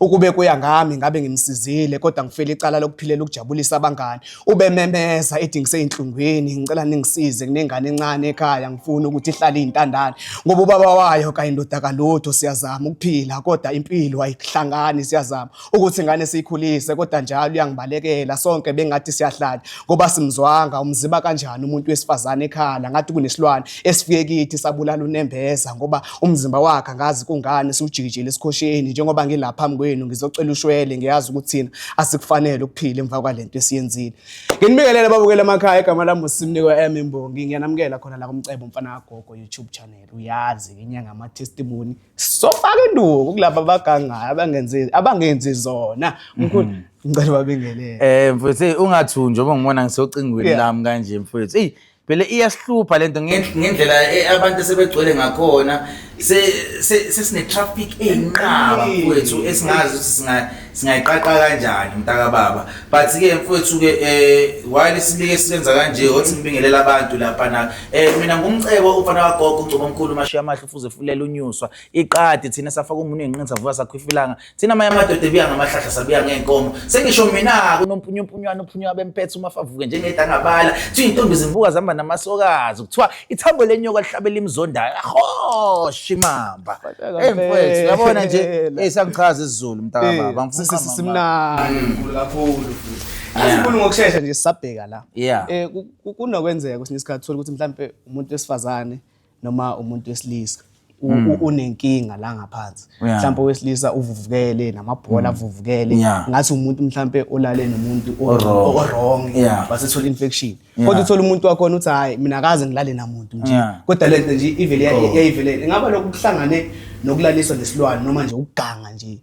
Ukube kuya ngami ngabe ngimsizile kodwa ngifela icala lokuphilela ukujabulisa abangani. Ubememeza ethi ngiseyinhlungwini ngicela ningisize kunengane encane ekhaya ngifuna ukuthi ihlale iyintandane ngoba ubaba wayo kanye ndoda kalutho siyazama ukuphila kodwa impilo ayihlangani siyazama ukuthi ingane siyikhulise kodwa njalo uyangibalekela sonke bengathi siyahlala ngoba simzwanga umziba kanjani umuntu wesifazane ekhala ngathi kunesilwane esifike kithi sabulala unembeza ngoba Umzimba wakhe angazi kungani siwujikijele esikhosheni njengoba ngila phambi kwenu ngizocela ushwele ngiyazi ukuthi thina asikufanele ukuphila emva kwalento esiyenzile. Nginibingelele babukele emakhaya igama lami uSimnikwa M Imbongi ngiyanamukela khona la kumcebo mfana kagogo YouTube channel uyazi inyanga ama testimony sofaka induku kulabo abagangayo abangenzi abangenzi zona mkhulu mhm. ngicela babingelele. Eh mfethu ungathunjwa ngoba ngibona ngisocingweni lami kanje mfethu. Ey vele iyasihlupha lento ngendlela e, abantu sebegcwele ngakhona sesine-traffic eyinqaba mfowethu esingazi ukuthi singayiqaqa kanjani mntaka baba but-ke mfowethu-ke um eh, wayele sibike silenza kanje othi ngibingelela abantu laphana um mina ngumcebo umfana wagogo ugcoba omkhulu umashiya amahle ufuze fulela unyuswa iqadi thina safaka umuntu enqini savuka sakhwifilanga Thina amanye amadoda ebuya ngamahlahla sabuya ngeenkomo. Sengisho mina kunompunyumpunywana ophunywa bempethe uma favuke njengeda ngabala. Kuthiwa intombi zivuka zihamba namasokazi. Kuthiwa ithambo lenyoka lihlabela imzondayo. Aho shimamba. Hey mfethu, yabona nje hey sangichaza isiZulu mntaka baba. Ngifuna simnandi kakhulu futhi. Asikhulu ngokushesha nje sisabheka la. Eh kunokwenzeka kwesinye isikhathi uthola ukuthi mhlambe umuntu wesifazane noma umuntu wesilisa hmm. unenkinga la ngaphansi mhlawumbe owesilisa uvuvukele namabhola hmm. avuvukele ngathi umuntu mhlawumbe olale nomuntu owrong wasethola infection kodwa uthola umuntu wakhona uthi hhayi mina akaze ngilale namuntu nje kodwa le nto nje ivele oh. yayivelele ingaba lokhu kuhlangane nokulaliswa nesilwane noma nje ukuganga nje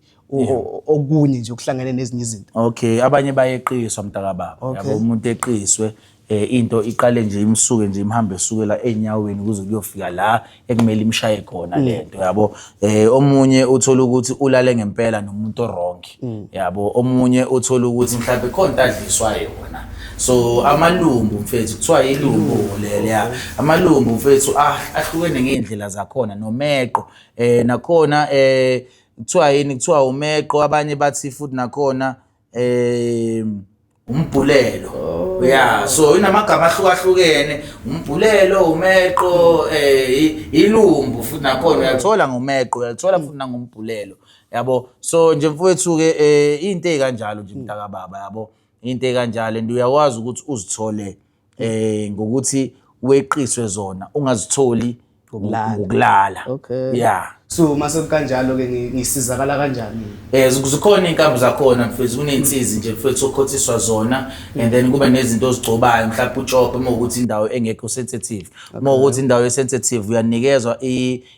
okunye nje okuhlangene nezinye izinto okay abanye bayeqiswa mntakababa yabo umuntu eqiswe eh into iqale nje imsuke nje imhambe esukela enyaweni kuze kuyofika la ekumele imshaye khona mm. lento yabo eh omunye uthola ukuthi ulale ngempela nomuntu wrong mm. yabo omunye uthola ukuthi mhlawumbe khona adliswa yona so amalumbu mfethu kuthiwa ilumbu mm. leleya amalumbu mfethu ah, ahlukene ngeendlela zakhona nomeqo eh nakhona eh kuthiwa yini kuthiwa umeqo abanye bathi futhi nakhona um umbhulelo oh. ya so inamagama ahlukahlukene umbhulelo umeqo um ilumbu futhi nakhona uyathola ngomeqo uyathola futhi nangombhulelo yabo so nje mfowethu-ke um eh, into ey'kanjalo nje mntakababa yabo into ey'kanjalo and uyakwazi ukuthi uzithole eh ngokuthi weqiswe zona ungazitholi ngokulala okay yeah so mase kanjalo ke ngisizakala kanjani eh zikhona inkabi zakhona mfethu kunensizi nje mfethu okhothiswa zona and then kuba nezinto ozigcobayo mhlawumbe utshope uma ukuthi indawo engekho sensitive uma ukuthi indawo esensitive uyanikezwa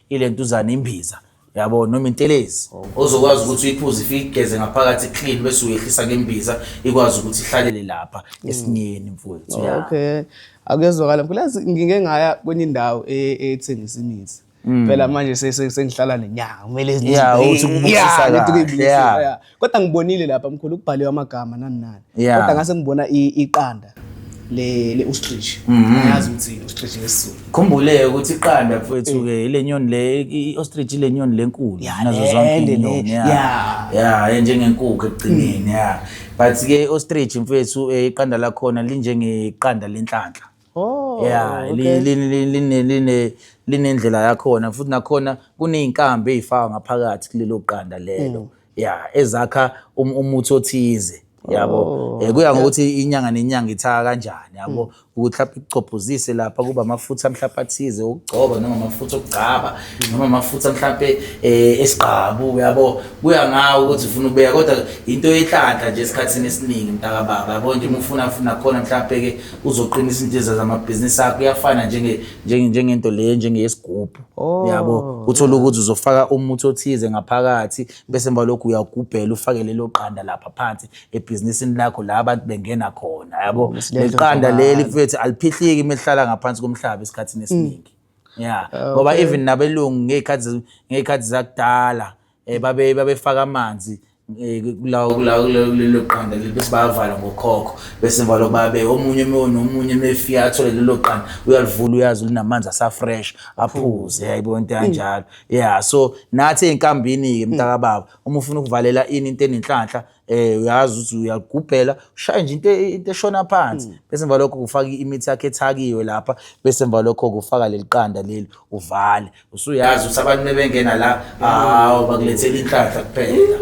ilentuzana imbiza yabo noma intelezi ozokwazi ukuthi uyiphuze ifike igeze ngaphakathi clean bese uyehlisa ngembiza ikwazi ukuthi ihlalele lapha mm. esinyeni mfowethu oh, ya okay akuyezwakala mkhulazi ngike ngaya kwenye indawo e, e, ethengisa imithi mm. phela manje sengihlala nenyanga kumele izinto yeah uthi kubusisa kahle yeah kodwa ngibonile lapha mkhulu kubhaliwe amagama nani nani Yeah. kodwa ngase ngibona i- iqanda le le ostrich Mhm. ayazi ukuthi i- ostrich ngesizulu khumbuleke ukuthi iqanda mfowethu-ke ile nyoni le i-ostrich ile nyoni lenkulu Ya, nazo le- zonke le- inyoni le- ya ya. ya enjengenkukhu ekugcineni ya but-ke i-ostrich mfowethu eh, iqanda lakhona linjengeqanda lenhlanhla Oh, yeah, okay. linendlela yakhona futhi nakhona kuney'nkambi ey'fakwa ngaphakathi kulelo qanda lelo mm. ya ezakha um, umuthi othize yabo oh, eh, kuya ngokuthi inyanga nenyanga ithaka kanjani yabo mm. ukuthi lapho ikuchobhuzise lapha kuba amafutha mhlawumbe athize okugcoba noma amafutha okugcaba mm. noma amafutha mhlawumbe eh, esigqabu yabo kuya ngawo ukuthi ufuna ubeka kodwa into yenhlanhla nje esikhathini esiningi mntaka baba yabo nje uma ufuna funa khona mhlawumbe ke uzoqinisa intshiza zamabhizinisi akho iyafana njenge njenge njengento le njengeyesigubhu Oh. yabo uthola ukuthi uzofaka umuthi othize ngaphakathi bese emva lokhu uyagubhela ufake lelo qanda lapha phansi ebhizinisini lakho la abantu bengena khona yabo Besilento leqanda nje leli mfethu aliphihliki mehlala ngaphansi komhlaba esikhathini esiningi yeah ngoba even nabelungu ngezikhathi ngezikhathi zakudala eh babe babefaka amanzi eh, kulawo kulawo kulelo qanda leli bese bayavala ngokhokho bese emva lokho babe omunye ume- nomunye mefika athole lelo qanda uyalivula uyazi linamanzi asafresh aphuze yayibona into kanjalo yeah so nathi ey'nkambini-ke mntakababa uma ufuna ukuvalela ini into enenhlanhla eh uyazi ukuthi uyagubhela ushaye nje into e, into eshona phansi hmm. bese emva lokho kufaka imithi yakhe ethakiwe lapha bese emva lokho kufaka leliqanda leli uvale usuyazi ukuthi abantu bebengena la hawo bakulethela inhlanhla kuphela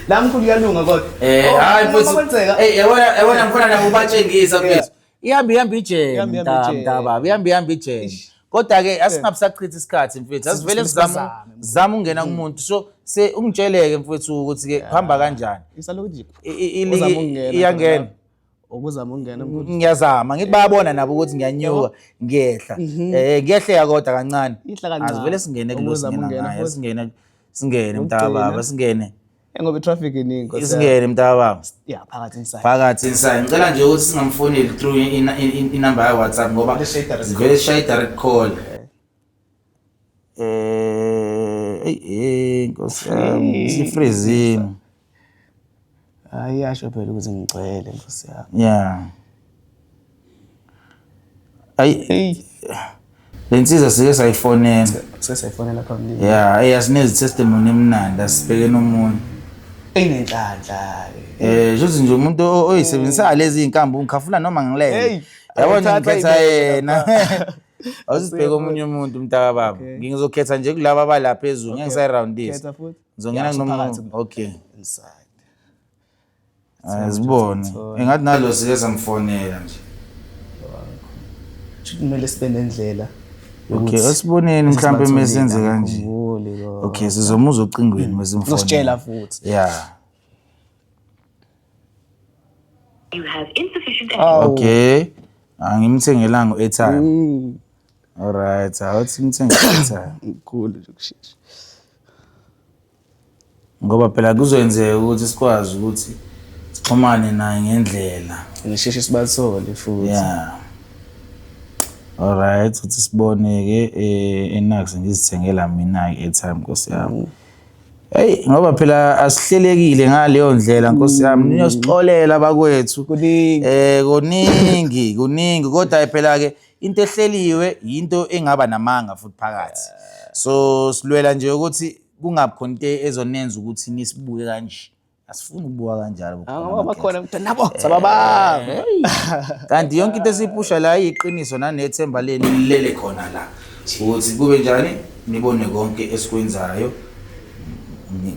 la mkhulu uyalunga kodwa eh hayi oh, futhi eh yabona yabona mfana nakubatshengisa mfethu ihambe ihambe ijeni Ihambe ihambe mta- ijeni. mntababa ihambe ihambe ijeni Ish. kodwa-ke asingabusachithi isikhathi mfethu asivele Sivele sizame sibazame. zama ukungena kumuntu so se ungitshele-ke mfethu ukuthi-ke kuhamba kanjani isalokhu nje I- i- iligi Uzama ukungena iyangena khona ukuzama ukungena mkhulu. ngiyazama ngithi bayabona nabo ukuthi ngiyanyuka ngiyehla eh ngiyehleka kodwa kancane Ihla kancane. asivele singene Ukuzama kulosingena ukungena ngayo futhi. singene singene Ukugcina. mntababa singene ngoba i-traffic iningi Nkosi yami. isingene mntakababa ya phakathi inside phakathi inside ngicela nje ukuthi singamfoneli through i- i- i- inamba ya-whatsapp ngoba Vele shaye i-direct call. vele shaye i-direct call Eh, eyi, eyi, nkosi yami sifrizile hayi yasho phela ukuthi ngigcwele nkosi yami ya ayi eyi le nsizwa sike sayifonela sesefonela phambilini ya eyi asinezi testimony emnandi asibhekeni omunye inenhlanhla um shuthi nje umuntu o- oyisebenzisa lezi iy'nkambi ungikhafuna noma ngilele Hey, yabona ayithatha ngikhetha ibeke yena lapha. awusibheke omunye umuntu mntaka baba Okay. ngizokhetha nje kulaba abala phezulu ngeke ngisayirowundisa Khetha futhi. ngizongena Ya, kunomunye usuphakathi. okay inside Azibone. Engathi nalo zike zamfonela nje. Kumele sibe nendlela. Okay, asiboneni mhlambe mesenze kanje. Okay, sizomuzwa ocingweni hmm. mesimfonela. Uzositshela futhi. Yeah. You have insufficient energy. Okay. Angimthengelanga u-airtime. Hmm. Alright, awuthi mthengele u-airtime. Mkhulu nje kushesha. Ngoba phela kuzoyenzeka ukuthi sikwazi ukuthi sixhumane naye ngendlela. Ngisheshe sibathole futhi. Yeah. Alright, uthi sibone-ke eh, enax ngizithengela mina i-airtime nkosi yami. Hey ngoba phela asihlelekile ngaleyo ndlela nkosi yami mm. niyosixolela bakwethu kuningi eh kuningi kuningi kodwa phela ke into ehleliwe into engaba namanga futhi phakathi so silwela nje ukuthi kungabi khona into ezonenza ukuthi nisibuke kanje asifuni ukubuka kanjalo bakhona ukuthi nabo eh. sababa kanti yonke into esiyipusha la iyiqiniso nanethemba leni lilele khona la ukuthi kube njani nibone konke esikwenzayo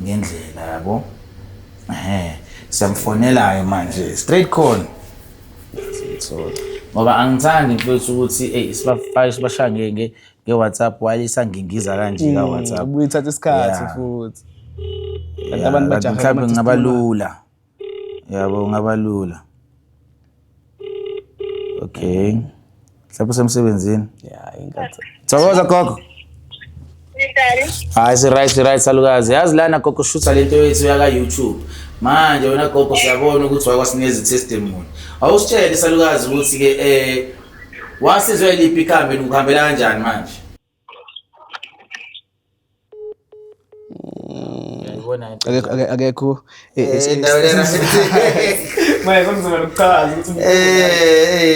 ngendlela yabo ehe siyamfonelayo manje straight call ngoba angithandi mfethu ukuthi ey sibafake sibashaya nge-whatsapp while isangingiza kanje ka-whatsapp Mm, Ubuyithatha isikhathi Yeah. futhi. Kanti Yeah, abantu kanti bajaha mhlawumbe ukuthi kungaba isitimela. lula yabo kungaba lula okay mhlawumbe usemsebenzini Yeah, inkathi. thokoza gogo Nitali. hayi siryt siryt salukazi yazi lana gogo shutha lento yethu yaka-youtube manje wena gogo siyabona ukuthi wakwasinikeza i-testimony awusitshele salukazi ukuthi-ke um Wasizwe liphi ikhambi likuhambela kanjani manje? akekho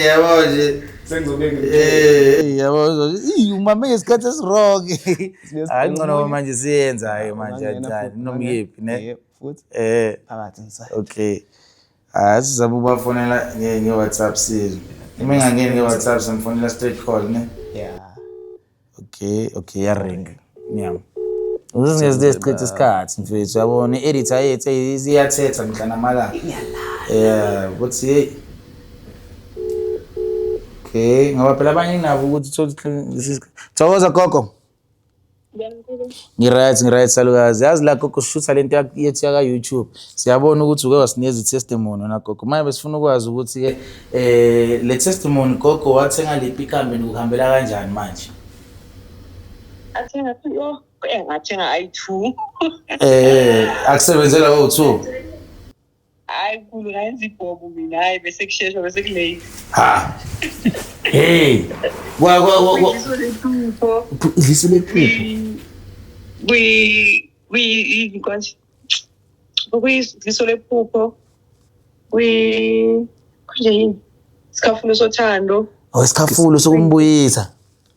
yabo nje umame ngesikhathi esirong hayi ncono manje siyenzayo manje anjani nomyephi ne futhi eh phakathi okay hayi sizama ukubafonela nge-whatsapp sizwe uma engangeni nge-whatsapp simfonela straight call ne ya okay okay yaring ngiyama ukuze singezide sichithe isikhathi mfethu yabona i-editor yethu iyathetha mihla namalanga ya ukuthi yeyi okay ngoba phela abanye nginabo ukuthi thokoza gogo Ngi-right, ngi-right salukazi. Yazi la gogo sishutha lento yethu yaka-YouTube. Siyabona ukuthi uke wasinikeza i-testimony wena gogo. Manje besifuna ukwazi ukuthi-ke eh le testimony gogo wathenga liphi ikambe nikuhambela kanjani manje? Athenga kuyo engathenga ayi-two. Eh akusebenzela o-two. hayi khulu ngayenza ibhobo mina hayi bese kusheshwa bese kulate ha hey wa wa wa wa Iso lephupho idliso lephupho kwi kwi yini kwanje kuyiso lephupho kwi kanje yini sikhafulo sothando awesikhafulo sokumbuyisa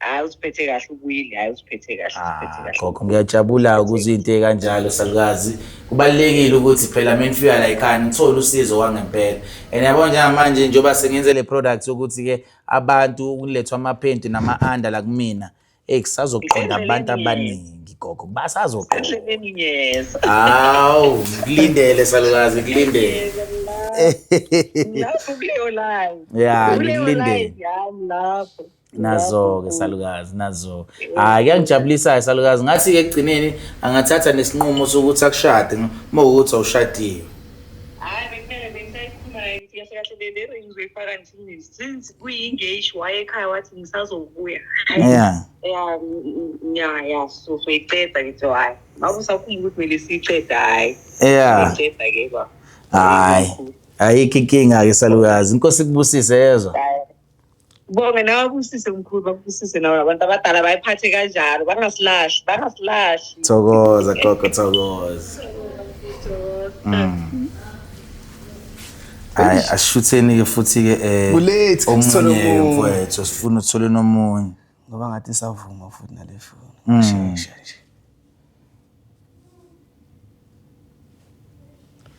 hayi usiphethe kahle ubuyile hayi usiphethe kahle usiphethe ah, kahle gogo ngiyajabula ukuze into ekanjalo salukazi kubalekile ukuthi phela mina ngifika la ekhaya ngithole usizo wangempela and yabo njengamanje njengoba sengenze le product ukuthi ke abantu kulethwa amaphenti nama-under la kumina eyi kusazoqonda abantu abaningi gogo basazoqoka endleleni ngiyeza hawu ngikulindele salukazi ngikulindele lapho kuleyo line ya kuleyo ngikulindele line yami lapho nazo-ke salukazi nazo hhayi kuyangijabulisayo salukazi ngathi-ke ekugcineni angathatha nesinqumo sokuthi akushade uma ukuthi awushadiwe hayi bekumele bengisayikhuluma naye ngithi kahle kahle le le ring uzoyifaka nje since kuyi-engage wayekhaya wathi ngisazobuya yeah ya ya ya so so iceda ngithi hayi ngabe usakhumbula ukuthi kumele siyiceda hayi yeah iceda ke ba hayi ayikho inkinga ke salukazi inkosi kubusise yezwa bonge nawe busise mkhulu bakubusise nawe abantu abadala bayiphathe kanjalo bangasilahli bangasilahli thokoza gogo thokoza mm. hayi asishutheni-ke futhi-ke um Bulethu, omunye sithole omunye. mfowethu sifuna uthole nomunye ngoba ngathi isavuma futhi nale foni Mm. shesha nje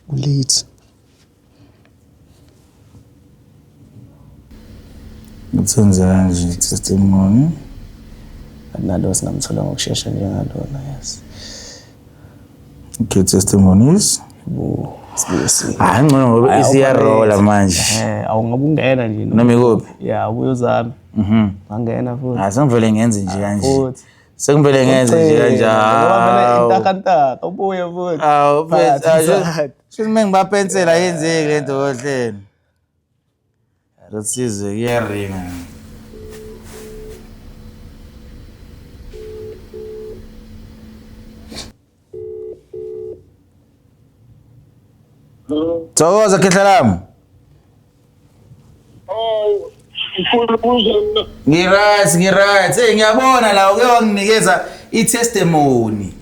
ulate Ngithenza kanje testimony. Akunalo singamthola ngokushesha njengalona yes. Okay testimonies. Hayi ngcono ngoba isiyarola manje. Eh awungabe ungena nje. Noma ikuphi? Yeah ubuyozami. Mhm. Ngangena futhi. Asangivele ngenze nje kanje. Futhi. Sekuvele ngenze nje kanjalo. Intakantaka ubuye futhi. Awu phakathi, phela phakathi. shuthi uma ngibapensela yenzeki le nto kohlelo. Rusizi kuyaringa. Thokoza khehla lami. Oh, ngifuna ukubuza mina. Ngiright, ngiright. Hey ngiyabona la uke wanginikeza i-testimony.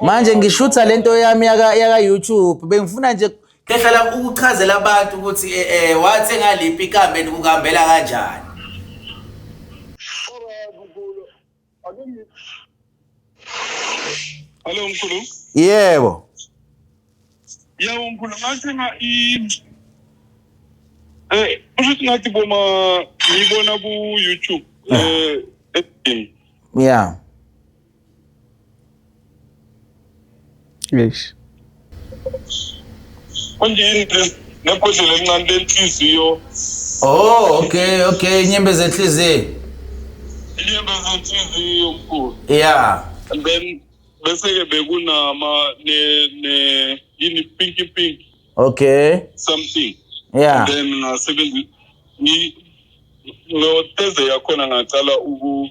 Manje ngishutha lento yami yaka yaka YouTube bengifuna nje khehla lami ukuchazela abantu ukuthi eh, eh wathe ngaliphi ikambe nikuhambela kanjani. Hello mkhulu. Yebo. Yebo mkhulu ngathenga i Eh kushuthi ngathi boma ngibona ku YouTube eh eh, Yeah. Eish. Kunjini nebhodlela elincane lenhliziyo. Oh, okay, okay, inyembe zenhliziyo. Inyembe zenhliziyo mkhulu. Yeah. And then bese ke bekunama ne ne yini pinky pink. Okay. Something. Yeah. And then ngasebenzisa ni no Thursday yakhona ngacala uku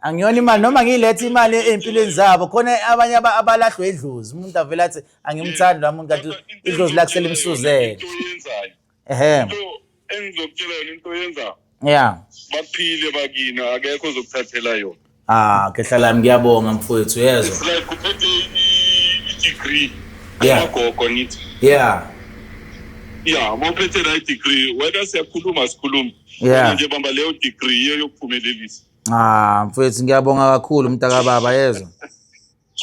angiyona imali noma ngiyiletha imali ey'mpilweni zabo khona abanye aba- abalahlwe idlozi umuntu avele athi angimthandi lwa muntu kanti idlozi lakusele imsuzele into oyenzayo ehe into engizokutshela yona into oyenzayo ya baphile bakini akekho ozokuthathela yona ah khehla lami ngiyabonga mfowethu yezwa it's like uphethe i- i-degree Yeah. amagogo ngithi ya ya uma uphethe la i-degree wena siyakhuluma sikhuluma Yeah. Kodwa nje bamba leyo degree iyo yokuphumelelisa Ah, mfethu ngiyabonga kakhulu mntaka baba yezwa.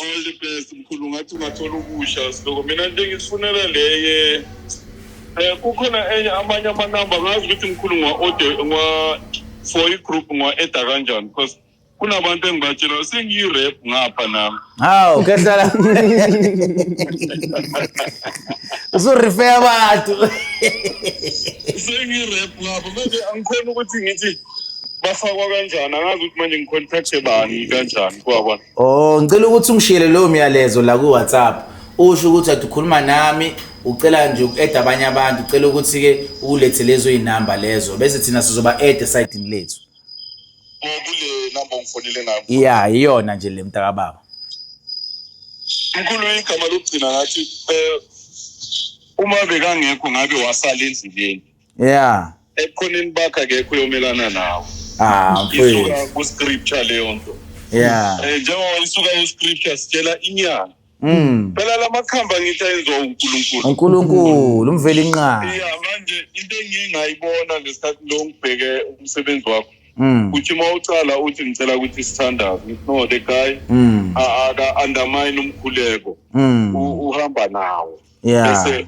All the best mkhulu ngathi ungathola ukusha siloko mina nje ngisifunela leye eh kukhona enye amanye ama number ngazi ukuthi mkhulu ngwa order ngwa for i group ngwa eda kanjani because kunabantu engibatshela sengiyi rap ngapha nami. Hawu kehlala. Usurifeya abantu. Sengiyi rap ngapha manje angikhona ukuthi ngithi bafakwa kanjani angazi ukuthi manje ngicontacte bani kanjani kwakwa oh ngicela ukuthi ungishiyele lowo myalezo la ku-whatsapp usho ukuthi athi ukhuluma nami ucela nje uku-eda abanye abantu ucela ukuthi-ke ukulethe lezo iy'namba lezo bese thina sizoba-eda esayidini lethu oh, kule namba ongifonele ngayo ya iyona nje le mntakababa mkhulu igama lokugcina ngathi um uma bekangekho ngabe wasala endleleni yeah ekhoneni bakho akekho uyomelana nawo ah isuka ku-scripture leyo nto yeah um njengoba isuka ku-scripture sitshela inyanga Mm. Phela lamakhamba ngithi ayenziwa uNkulunkulu. uNkulunkulu umveli inqaba. Yeah manje into engingayibona ngesikhathi lo ngibheke umsebenzi wakho. Mm. Uthi uma ucala uthi ngicela ukuthi sithandaze. No the guy mm. aka undermine umkhuleko. Mm. Uhamba nawo. Yeah. Bese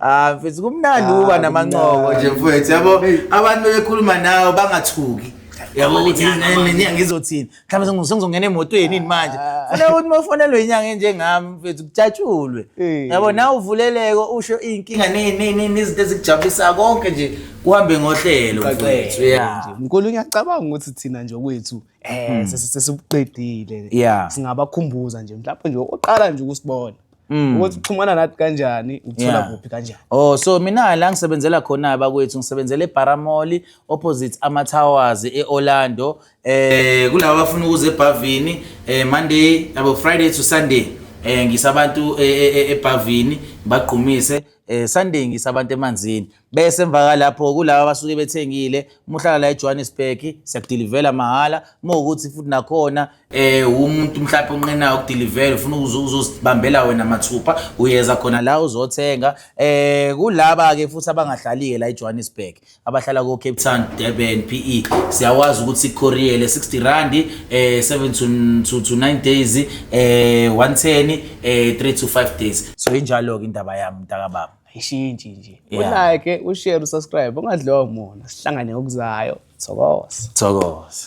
Ah mfethu kumnandi uba namancoko nje mfethu yabo abantu bekhuluma nawe bangathuki yabo ukuthi mina ngizothini mhlawumbe sengizongena emotweni yini manje funa ukuthi mofonelwe inyanga enjengami mfethu kujatshulwe yabo nawe uvuleleko usho iy'nkinga nezinto ezikujabulisa konke nje kuhambe ngohlelo mfethu ya mkhulu ngiyacabanga ukuthi thina nje kwethu um sesibuqedile singabakhumbuza nje mhlawumbe nje oqala nje ukusibona Mm. ukuthi uxhumana nathi kanjani ukuthola Yeah. kuphi kanjani Oh so mina la ngisebenzela khona bakwethu ngisebenzela eBaramoli opposite ama Towers eOrlando eh kulabo abafuna ukuza eBhavini eh Monday abo Friday to Sunday eh ngisabantu eBhavini bagqumise eh Sunday ngisabantu emanzini bese emva kalapho kulaba abasuke bethengile uma uhlala la ejohannesburg siyakudilivela mahhala uma ukuthi futhi nakhona eh umuntu mhlawumbe onqenayo ukudilivela ufuna uzozibambela wena mathupha uyeza khona la uzothenga eh kulaba ke futhi abangahlali-ke la ejohannesburg abahlala ko-cape town durban p e siyawazi ukuthi ikoriyele 60 randi eh 7 to, to, to 9 days eh 110 eh 3 to 5 days so injalo-ke indaba yami mntakababa ayishintshi nje Yeah. ulike ushare usubscribe ungadliwa umona sihlangane ngokuzayo thokoza Thokoza.